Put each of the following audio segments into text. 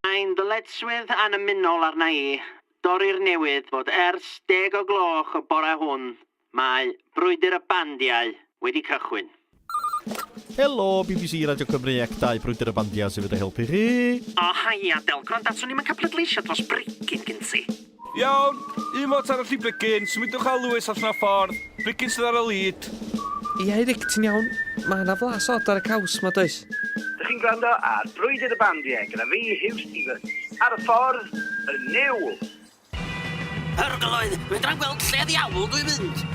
Mae'n ddyletswydd annymunol arna i dorri'r newid bod ers deg o gloch y bore hwn mae Brwydr y Bandiau wedi cychwyn. Helo, bbc Radio Cymru ac dau Brwydr y Bandiau sydd wedi helpu chi! O, haia, Del, gwranda, swn i'm yn cael pleidleisio dros Brecyn gen ti. Iawn, un mot arall i Brigyn, symudwch â Lewis allan o'r ffordd, Brigyn sydd ar y lead. Ia Eric, ti'n iawn? Mae 'na flas od ar y caws 'ma, does? Dych chi'n gwrando ar Brwydr y Bandiau gyda fi, Huw Stephens, ar y ffordd, y niwl! Arglwydd, fedra i'm gweld lle ddiawl dwi'n mynd!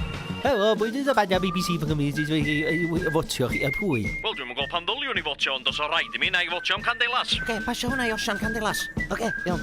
Helo, Brwydr y Bandiau bbc fy Nghymru sydd wedi ei fotio chi a phwy? Wel dwi'm yn gweld pam ddyliwn i fotio ond os o raid i mi, 'na i fotio am Candelas. Ocê, pasio hwnna i Osian Candelas. Ocê, iawn.